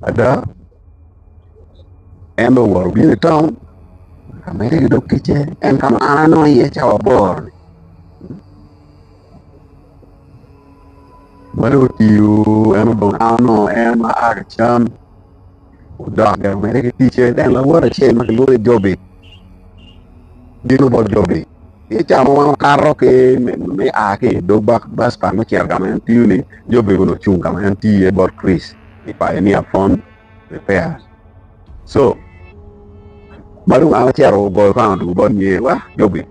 Ada, en dong owoto obino i taun ka ma en dok ticce, en ka ma an anongo iye cawa aboro-ni. Ma dong otiyo en odong ka onongo en ma a ki cam odok gire omedde ki ticce. Ento lawote acel ma kilwongo ni Jobi bino bot Jobi. Ki ca ma wan wakato ki me a ki i dog bas pa me cito ka ma en tiyo-ni, Job bene onongo cung ka ma en tiyo iye bot Chris i painia phone repair. Co. Ma dong an acito ogoyo kong adwogo bot nyer, Wa, Jobi,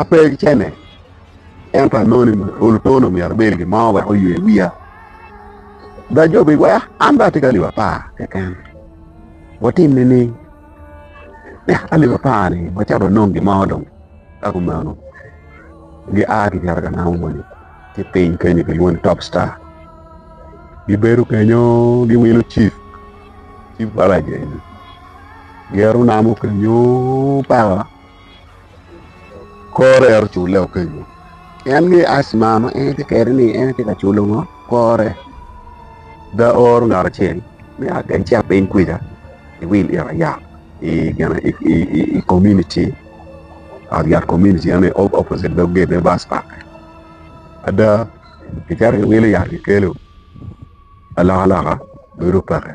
ape gicene, ento anongo ni olo tono myero abed gin mo wek oywe wiya. Da Jobi, Wa, an dong atye ki alip apar keken. Watim nining? Tek ka leb apar ni wacato wanong gin mo dong ka kumeno gia ki cito ka namo moni ki piny kenyo kilwongo ni top star gibedo kenyo giwilo cif cif baraja eni giyero namo kenyo paka kore ento cule okeco en ni asma ma en tye kede ni en tye ka culo ngo kore da oro ngat acel me a kany ci apiny kwija i wil it aya i gene i komuniti ot yat komuniti en aye opposite dog gate me bus park ada kicito kiwilo yat kikelo alokaloka bedo peke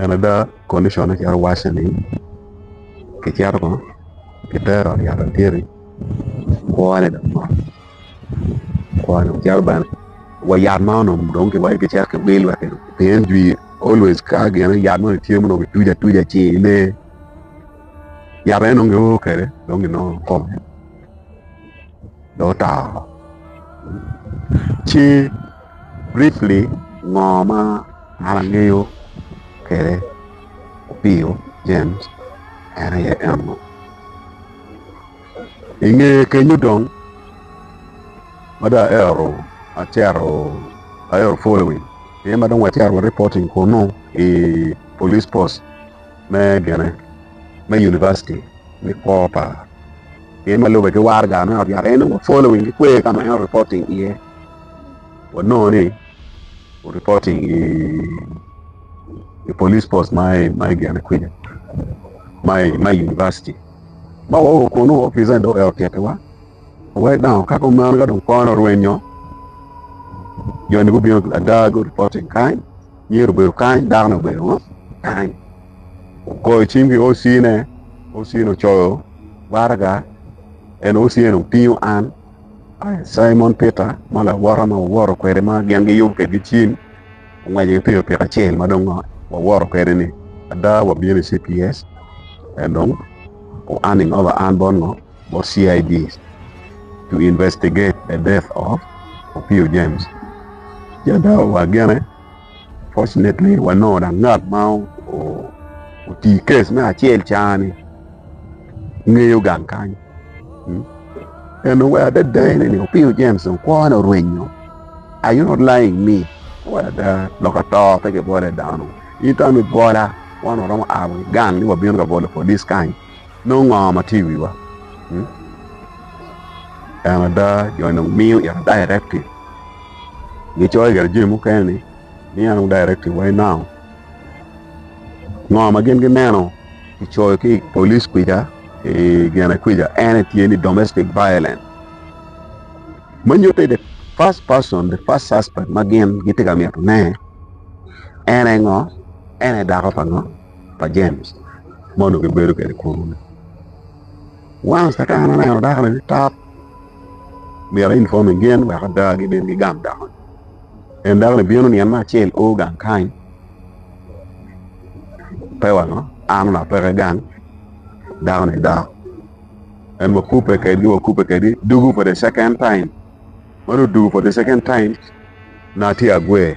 En ada condition ne calo wacce ni kicito kong kitero i ot adyeri kwone dong mot kwone dong cito bene wa yat ma onongo dong kiwaco ni kicito kiwil wek kidong pien jwi always ka gin yat moni tye ma onongo kituco atuca ci ine yat eno dong gio kwede dong ginongo kome dong oto. Ci briefly ngo ma an angeyo kwede Opio James en aye eno. I nge kenyo dong ma dong aero acito aero following aye ma dong wacito wa reporting kunu i police post. me gine me Yunivaciti me kwo pa pien ma lube ki war gar me ot yat en wa following ki kwer ka ma en reporting iye wanongo ni reporting i i police post ma i ma i gine kwica ma i ma i Yunivaciti ma wa oru kunu opice do eo tyettiwa wek dong ka kumeno ka dong kone orwenyo joni gubino ada gu reporting kany Myero obedo kany, dako-ni obedo ngo? Kany. Ogoyo cim ki OC-ne, OC-ni ocoyo waraga, ento OC-ni otingo an, Cimon Peter, ma lawota ma wawoto kwede ma gin giyub kwedgi cim, ongweco ki pikipiki acel ma dong wawoto kwede-ni. Ada, wabino i CPS, en dong o-earning over an bot ngo? bot CID to investigate the death of Opio James. Jada wa gene, fortunately wanongo dang ngat ma oti kes me acel cani ngeyo gang kany. Hmm? En owe adada ene ni Opio James dong kwone orwenyo. Are you not lying me? Owe ada lok ato pe kibole dano. Ito mi bola wan oromo awi gang ni wabino ka bolo polis kany. nongo ngo ma tye i wiwa? En ada jo ni nongo miyo in directive, gicoyo gire jami mukene ni miya nongo directive wai now, ngo ma gin gineno kicoyo ki i police kwica i gine kwica en aye tye ni domestic violence ma nyutte the first person, the first suspect ma gin gitye ka mito ne en aye ngo? En aye dako pa ngo? pa James ma onongo gibedo kwede kunu-ni. Once ka en oneno dakoni ni tap, myero einfom i gin wek ada gibin gigam dakoni. En dakoni bino nino me acel o gang kany, pe wano an onongo apeke gang, dakoni dok en wakubbe kwedgi wakubbe kwedgi dugu for the second time. Ma dong odugu for the second time, nongo atye agwer.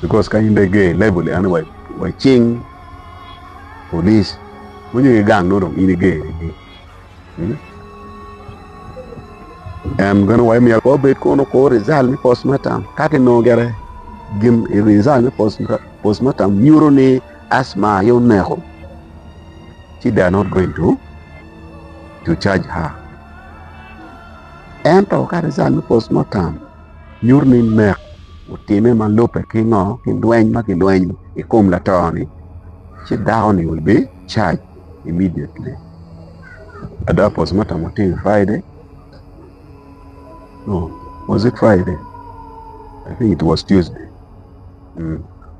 Because ka in dong iger i level eno wa wa cing police winyo ki gang nongo dong in iger igi. Hmm? En gano wa myero ko bed kono ko result me postmortem ka kinongo gere gin i result me post- postmortem nyuto ni asma aye oneko ci they are not going to to charge her ento ka result me postmortem nyuto ni nek otime ma lubbe ki ngo ki lweny ma kilwenyo i kom lato ni ci dako ni will be charge immediately ada postmortem otimo Friday no was it Friday I think it was Tuesday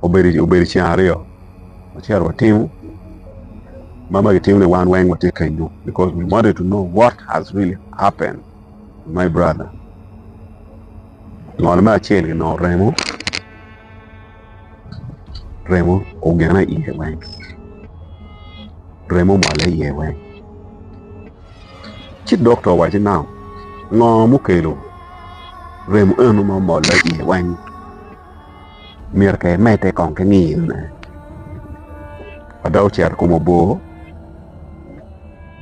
obedo ceng aryo wacito watimo ma ma kitimo ni wan weng watye kenyu because we wanted to know what has really happened. My brother, ngol me acel ni nongo remo, remo ogene iye weng, remo omole iye weng. Ci dokta owaci nau, ngo mukelo remo eno ma omole iye weng? myero ke medde kong ki ngiyo ne ma dok ocito i kom obor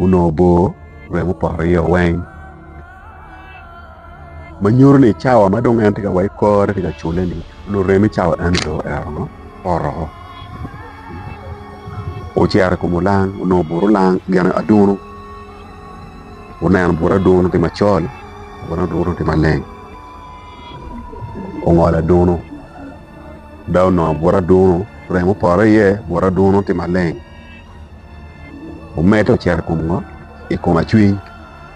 onongo obor remo opoto iye o weng ma nyuto ni cawa ma dong en tye ka wa ki kore tye ka cule ni onongo reme cawa eno dong oito ngo opoto oo ocito i kom olang onongo obur olang gin adunu oneno bur adunu tye macol bur adunu tye maleng ongolo adunu dok onongo buto adunu remo opoto iye buto adunu tye maleng omedde ocito i kom ngo i kom acwiny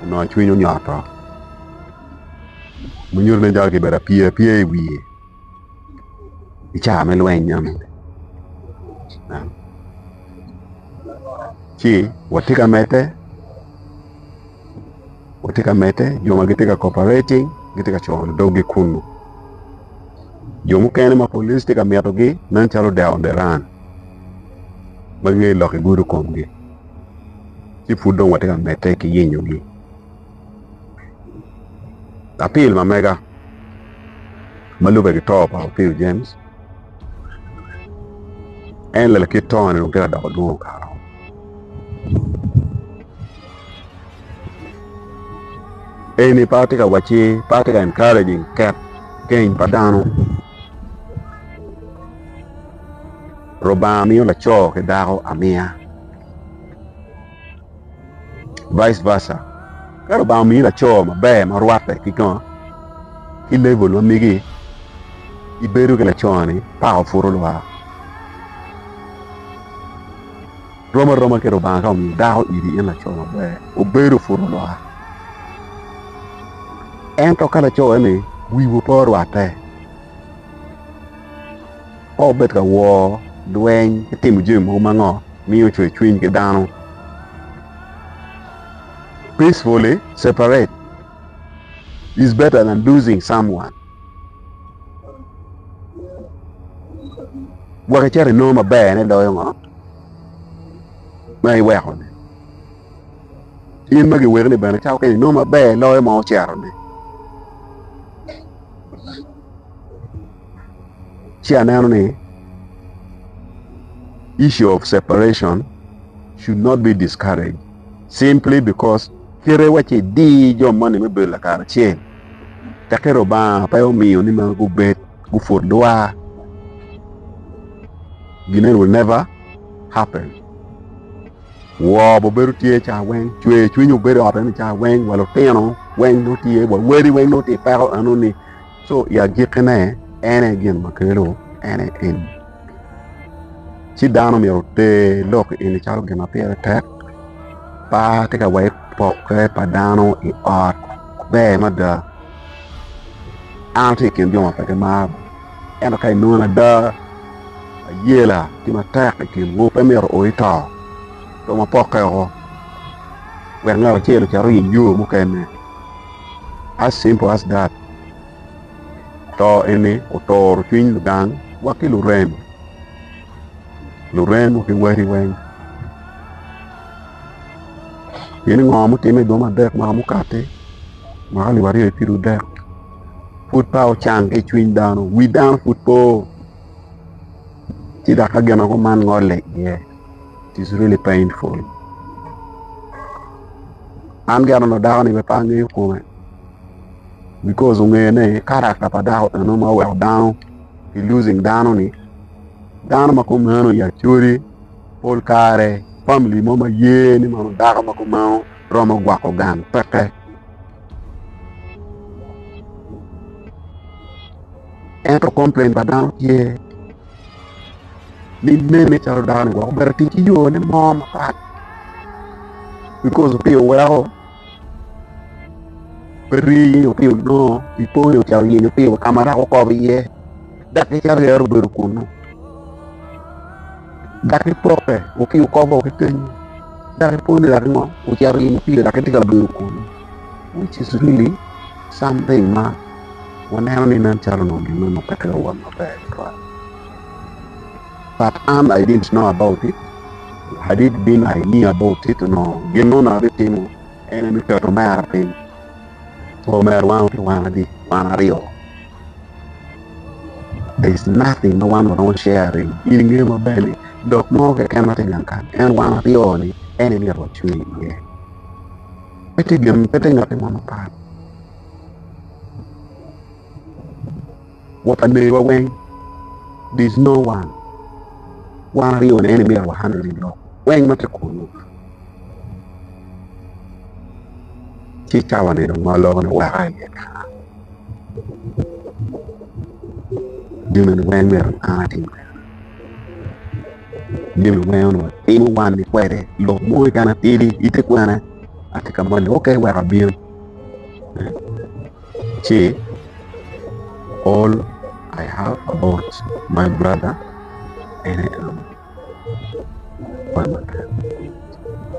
onongo acwiny onyoto ma nyuto ni dong kibedo apye apye i wiye ki ca me lweny meno ci watye ka medde. watye ka medde jo ma gitye ka cooperating gitye ka coyo doggi kunnu jo mukene ma polic tye ka mitogi nen calo odeo on the run ma gingeyo lok i gudo komgi ci pud dong watye ka medde ki yenyogi apil ma mega ma lube ki to pa Opio James en lela kit tone dong tye ka doko dwongo kara Eni pe atye ka wacci pe atye ka encouraging ket keny pa dano Lubanga miyo laco ki dako amiya vice versa ka Lubanga omiyi laco maber ma rwatte ki kong ki level ma megi ibedo ki laconi paka pud olwar. Rom aroma ki Lubanga ka omiyo dako iri in laco maber, obedo pud olwar. Ento ka laco-ni wiwu pe orwatte, ka wubed ka wor, lweny ki timo jami mogo ma ngo miyo cwer cwiny ki dano, peacefully separate is better than losing someone. Gwok icato inongo maberne loyo ngo ma iweko-ni? In ma giwekoni bene cato kene inongo maber loyo ma ocito-ni. Ci aneno ni issue of separation should not be discouraged simply because kite wa ci idi jo moni me bedo lakaracel. Tekki Lubanga pe omiyo ni ma gubed guput lwa gine will never happen woo be obedo tye ca weng cwer cwiny obedo i ot eno ca weng wa lutino weng nongo tye wa wadi weng nongo tye i peko eno ni so i agikkine en aye gin ma kelo en aye en Ci dano myero oter lok eni calo gin ma pire tek, par ki ka weko pokke pa dano i ot ber mada. An atye i kin jo ma pe gimaro ento ka inongo ada ayela tye matek i kinwu pe myero o ito rong wapokke woko wek ngat acel ocit oiny yo mukene as simple as that. To eni oturo cwiny ludang wa ki lurem, lurem wa ki wati weng. Pien ni ngo mutime i dwom adek ma mukati ma alip aryo ki piru dek pud pe ocang ki i cwiny dano, wi dano pud pe oo. Ci dok ka gin mogo man ngole iye it is really painful. An gi anongo dakoni pe angeyo kome. because ongeyo ni karakta pa dako eno ma oweko dano ki losing dano ni dano ma kumeno i Acholi pol kare famili mo ma ye ni mono dako ma kumeno romo gwoko gang peke ento komplain pa dano tye ni nene calo dano-ni wek obedo otic ki yone mo mapat because opye oweko Pe riyo pi onongo ipoyo ca oyenyo piwa ka ma rako kop iye, daki ca ryere obedo kunnu. Daki ipoke wa ki okobo wa ki kenyu, daki iponi daki ngo ocito oyenyo piwa daki tye ka bedo kunnu, which is really something ma waneno ni nen calo onongo gin meno pe twero wot maber tutwal. But am I didn't know about it, I did been I knew about it onongo gin mo onongo abitimo en aye me keto omera piny pe omera wan ki wan adi wan aryo there is nothing ma wan waromo sharing in ingeyo maber ni lok mo keken ma tye gang kany en wan aryo ni en aye myero wacwe iye pe tye gin pe tye ngat mo mapat Wa pa merowa weng there's no one wan aryo ni en imito wa hundred in lok weng ma tye kunu ci cawa ni dong ma loko ni weka iye kara jami ni weng myero an atim kara jami weng onongo atimo wan ni kwede lok mo keken atidi ite kwena atye ka mony ni ok wek abin ci all I have about my brother ene en aye lubanga pa lutino.